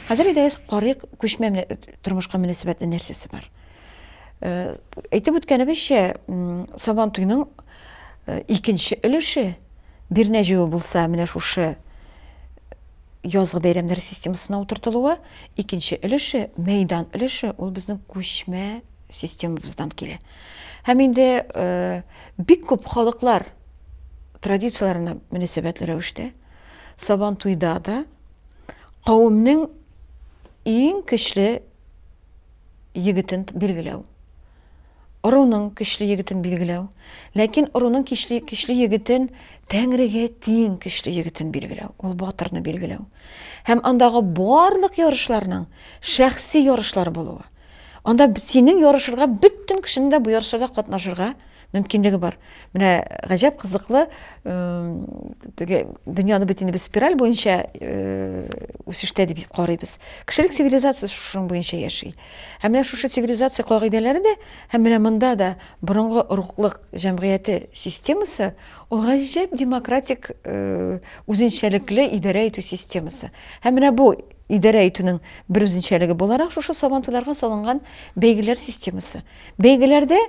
Хәзер иде карыйк күчмә тормышка мөнәсәбәтле нәрсәсе бар. Э, әйтеп үткәнебезчә, Сабан туйның э, икенче өлеше Бирнә җыю булса, менә шушы э, язгы бәйрәмнәр системасына утыртылуы, икенче өлеше, мәйдан өлеше, ул безнең күчмә системабыздан килә. Һәм инде бик күп халыклар традицияләренә мөнәсәбәтле рәвештә Сабан туйда да кавемнең иң көчле егетен билгеләү. Оруның көчле егетен билгеләү. Ләкин оруның көчле, көчле егетен тәңрегә тиң көчле егетен билгеләү. Ул батырны билгеләү. Һәм андагы барлык ярышларның шәхси ярышлар булуы. Анда синең ярышырга бөтен кешенең дә бу ярышларда катнашырга мөмкинлеге бар. Менә гаҗәп кызыклы теге дөньяны бит инде без спираль буенча үсештә дип карыйбыз. Кешелек цивилизациясе шуның буенча яши. Һәм менә шушы цивилизация кагыйдәләре дә һәм менә монда да борынгы оруклык җәмгыяте системасы ул гаҗәп демократик үзенчәлекле идарә итү системасы. Һәм менә бу Идарә итүнең бер үзенчәлеге буларак шушы сабантуйларга салынган бәйгеләр системасы. Бәйгеләрдә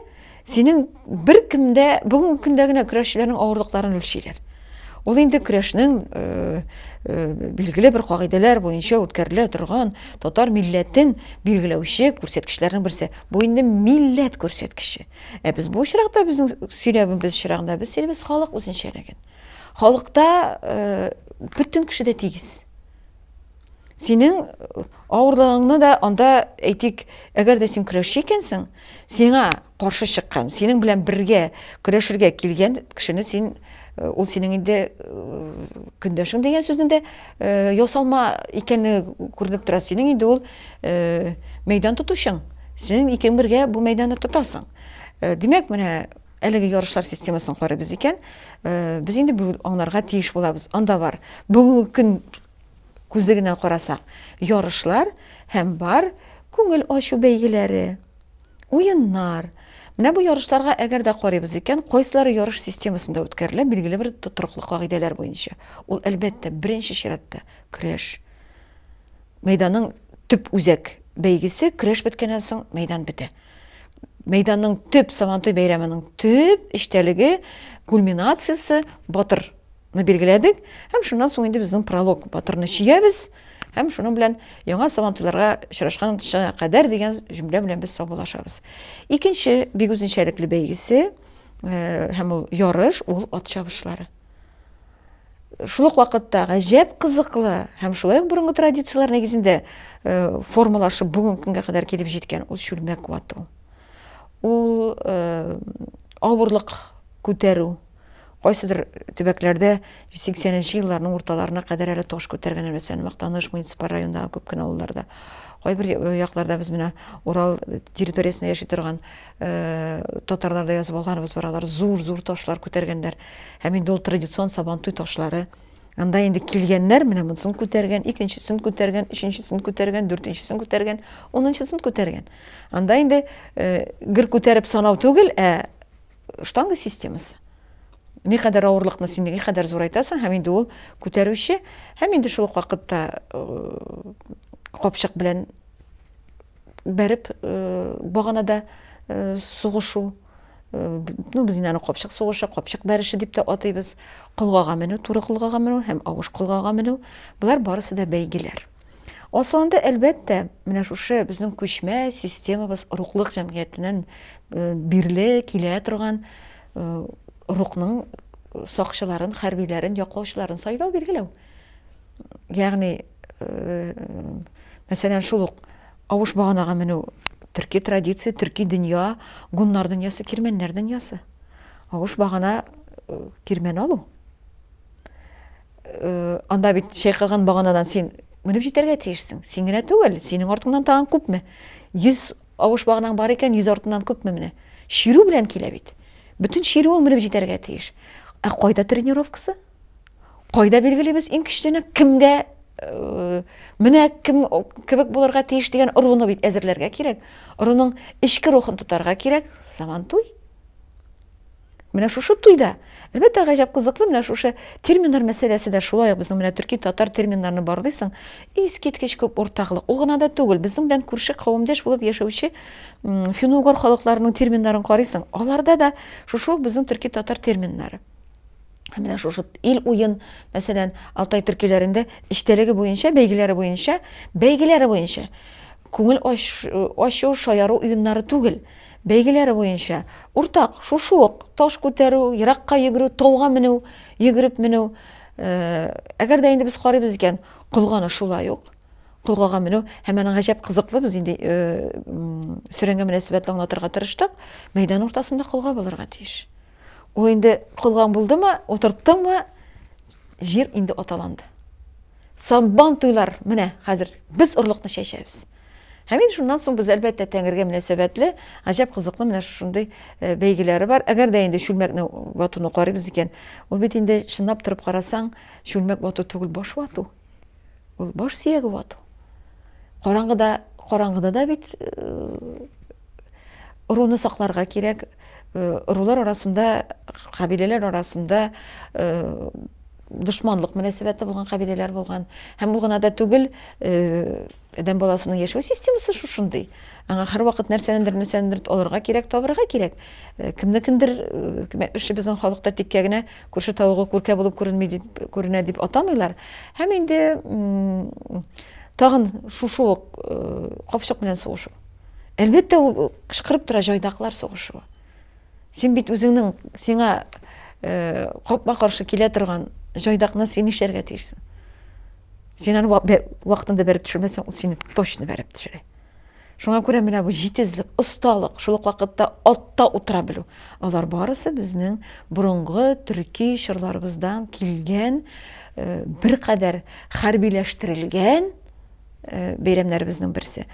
синең бер кемдә бүгенге көндә генә көрәшчеләрнең авырлыкларын үлчиләр. Ул инде көрәшнең э, э, билгеле бер кагыйдәләр буенча үткәрелә торган татар милләтен билгеләүче күрсәткечләрнең берсе. Бу инде милләт күрсәткече. Ә без бу очракта безнең сөйләвебез чирагында без сөйлибез халык үзенчәлеген. Халыкта э, бөтен кеше дә тигез. синең э, авырлыгыңны да анда әйтик әгәр дә син көрәшче икәнсең сиңа каршы чыккан синең белән бергә көрәшергә килгән кешене син э, ул синең инде э, көндәшең дигән сүзнең дә ясалма икәне күренеп тора синең инде ул мәйдан тотучың син икең бергә бу мәйданны тотасың димәк менә Әлеге ярышлар системасын карыйбыз икән, э, без инде бүген аңларга тиеш булабыз. Анда бар. Бүгенге көн күзе генә карасак, ярышлар һәм бар күңел ачу бәйгеләре, уеннар. Менә бу ярышларга әгәр дә карыйбыз икән, кайсылары ярыш системасында үткәрелә, билгеле бер тотрыклы кагыйдәләр буенча. Ул әлбәттә, беренче чиратта көрәш. Мәйданның төп үзәк бәйгесе көрәш беткәннән соң мәйдан бетә. Мәйданның төп Сабантуй бәйрәменең төп эчтәлеге, кульминациясе батырны билгеләдек һәм шуннан соң инде безнең пролог батырны чиябез һәм шуның белән яңа Сабантуйларга очрашканча кадәр дигән җөмлә белән без саубуллашабыз. Икенче бик үзенчәлекле бәйгесе э, һәм ул ярыш ул ат чабышлары. шул ук вакытта гаҗәп кызыклы һәм шулай ук борынгы традицияләр нигезендә э, формалашып бүгенге көнгә кадәр килеп җиткән ул чүлмәк вату ул э, авырлык күтәрү кайсыдыр төбәкләрдә 80 нче елларның урталарына кадәр әле таш күтәргәннәр мәсәлән мактаныш муниципаль районындагы күп кенә авылларда кайбер якларда без менә урал территориясендә яши торган татарларда язып алганыбыз бар алар зур зур ташлар күтәргәннәр һәм инде ул традицион сабантуй ташлары анда инде килгәннәр менә монысын күтәргән икенчесен күтәргән өченчесен күтәргән дүртенчесен күтәргән унынчысын күтәргән анда инде э, гер күтәреп санау түгел ә штанга системасы никадәр авырлыкны син никадәр зурайтасың һәм инде ул күтәрүче һәм инде шул ук вакытта э, капчык белән бәреп, баганада сугышу, ну, без инде аны капчык сугышы, капчык бәреше дип тә атыйбыз, колгага менү, туры колгага менү һәм авыш колгага менү, болар барысы да бәйгеләр. Асылында, әлбәттә, менә шушы безнең күчмә системабыз рухлык җәмгыятеннән э, бирле килә торган э, рухның сакчыларын, хәрбиләрен, яклаучыларын сайлау, билгеләү. Ягъни, мәсәлән, шул ук авыш баганага менү төрки традиция, төрки дөнья, гуннар дөньясы, кирмәннәр дөньясы. Авыш багана кирмән алу. Анда бит чайкаган баганадан син менеп җитәргә тиешсең. Син генә түгел, синең артыңнан тагын күпме? 100 авыш баганаң бар икән, 100 артыннан күпме менә? Чирү белән килә бит. Бөтен чирүең менеп җитәргә тиеш. Ә кайда тренировкасы? кайда билгелибез иң көчлене кемгә э, менә кем кебек булырга тиеш дигән ыруны бит әзерләргә кирәк ыруның эчке рухын тотарга кирәк заман туй менә шушы туйда әлбәттә гаҗәп кызыклы менә шушы терминнар мәсьәләсе дә шулай ук безнең менә төрки татар терминнарны барлыйсың искиткеч күп уртаклык ул гына да түгел безнең белән күрше кавемдәш булып яшәүче финугор халыкларының терминнарын карыйсың аларда да шушы ук безнең төрки татар терминнары Һәм менә шушы ил уен, мәсәлән, Алтай төркиләрендә эчтәлеге буенча, бәйгеләре буенча, бәйгеләре буенча күңел ачу, шаяру уеннары түгел, бәйгеләре буенча уртак, шушы ук таш күтәрү, еракка йөгерү, тауга менү, йөгереп менү. Э, әгәр дә инде без карыйбыз икән, кылганы шулай ук кылгага менү һәм аның гаҗәп кызыклы без инде э, сөрәнгә мөнәсәбәтле аңлатырга тырыштык мәйдан уртасында кылга булырга тиеш Ул инде кылган булдымы, утырттымы, җир инде аталанды. Саббан туйлар, менә хәзер без орлыкны чәчәбез. Һәм инде шуннан соң без әлбәттә Тәңрегә мөнәсәбәтле, гаҗәп кызыклы менә шушындый э, бәйгеләре бар. Әгәр дә инде чүлмәкне ватуны карыйбыз икән, ул бит инде чынлап торып карасаң, чүлмәк вату түгел, баш вату. Ул баш сөяге вату. Караңгыда, караңгыда да бит э, руны сакларга кирәк, Ырулар арасында, кабиләләр арасында дошманлык мөнәсәбәте булган кабиләләр булган. Һәм бу гына да түгел, адәм баласының яшәү системасы шушындый. Аңа һәрвакыт нәрсәнедер, нәрсәнедер алырга кирәк, табырга кирәк. Кемнекендер, кемәкше безнең халыкта тиккә генә күрше тавыгы күркә булып күренми дип, күренә дип атамыйлар. Һәм инде тагын шушы ук капчык белән сугышу. Әлбәттә, ул кычкырып тора җайдаклар сугышуы. Син бит үзеңнең сиңа э, капма-каршы килә торган җайдакны син нишләргә тиешсең? Син аны вакытында бәреп төшермәсәң, ул сине точно бәреп төшерә. Шуңа күрә менә бу җитезлек, осталык, шул ук вакытта атта утыра белү. Алар барысы безнең борынгы төрки чорларыбыздан килгән э, беркадәр хәрбиләштерелгән э, бәйрәмнәребезнең берсе.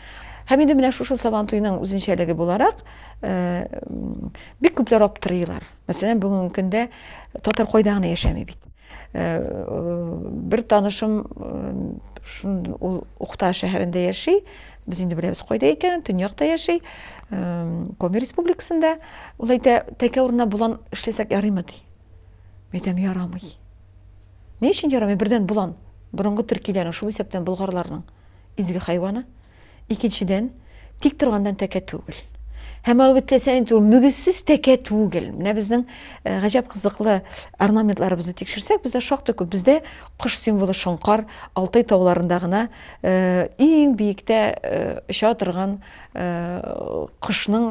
Һәм инде менә шушы Сабантуйның үзенчәлеге буларак э, бик күпләр аптырыйлар. Мәсәлән, бүгенге көндә татар кайда гына яшәми бит. Э, бер танышым ул Ухта шәһәрендә яши, без инде беләбез кайда икән, төньякта яши, Коми республикасында. Ул әйтә, тәкә урынына болан эшләсәк ярыймы ди. Мин әйтәм, ярамый. Ни өчен ярамый? Бердән болан, борынгы төркиләрнең, шул исәптән болгарларның изге хайваны. Икенчедән, тик торгандан тәкә түгел. Һәм алып үтләсә инде ул мөгезсез тәкә түгел. Менә безнең э, гаҗәп кызыклы орнаментларыбызны тикшерсәк, бездә шактый күп. Бездә кыш символы шоңкар, Алтай тауларында гына э, иң биектә э, оча торган кошның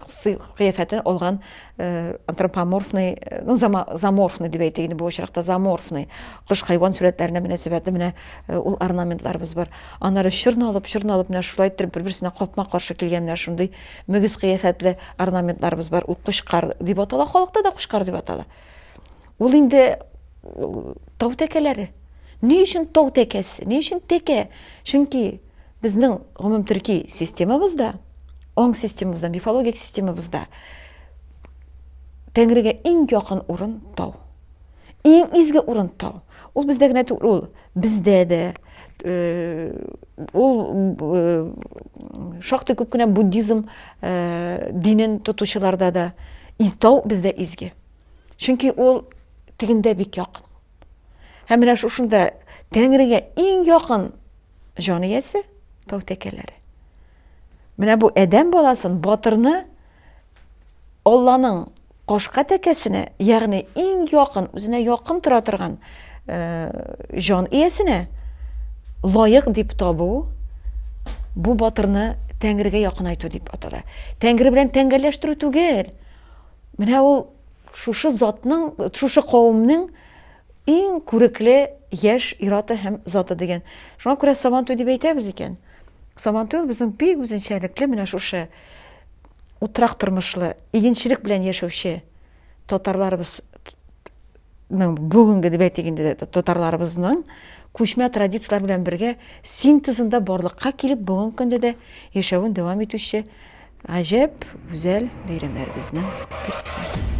сый кыяфәтен алган э, антропоморфный, э, ну, заморфный дип әйтик инде бу очракта, заморфный кош хайван сурәтләренә мөнәсәбәтле менә э, ул орнаментларыбыз бар. Аннары чорналып, чорналып менә шулай иттереп бер-берсенә капма-каршы килгән менә шундый мөгез кыяфәтле орнаментларыбыз бар. Ул кушкар дип атала, халыкта да кушкар дип атала. Ул инде тау тәкәләре. Ни өчен тау тәкәсе? Ни өчен тәкә? Чөнки Безнең гомумтөрки системабызда, оң системабызда, мифологик системабызда Тәңрегә иң якын урын тау. Иң изге урын тау. Ул бездә генә түгел, ул бездә дә, ул шактый күп кенә буддизм динен тотучыларда да тау бездә изге. Чөнки ул тегендә бик якын. Һәм менә шушында Тәңрегә иң якын җан иясе тау тәкәләре. Менә бу адәм баласын, батырны Алланың кашка тәкәсенә, ягъни иң якын, үзенә якын тора торган э, җан иясенә лаек дип табу бу батырны Тәңрегә якынайту дип атала. Тәңре белән тәңгәлләштерү түгел. Менә ул Шушы затның, шушы кавымның иң күрекле яшь ираты һәм заты дигән. Шуңа күрә Сабантуй дип әйтәбез икән. Сабантуй безнең бик үзенчәлекле менә шушы утрак тормышлы, игенчелек белән яшәүче татарларыбыз бүгенге дип әйтик инде татарларыбызның күчмә традицияләр белән бергә синтезында барлыкка килеп бүгенге көндә дә яшәвен дәвам итүче Гаҗәп гүзәл бәйрәмнәребезнең берсе.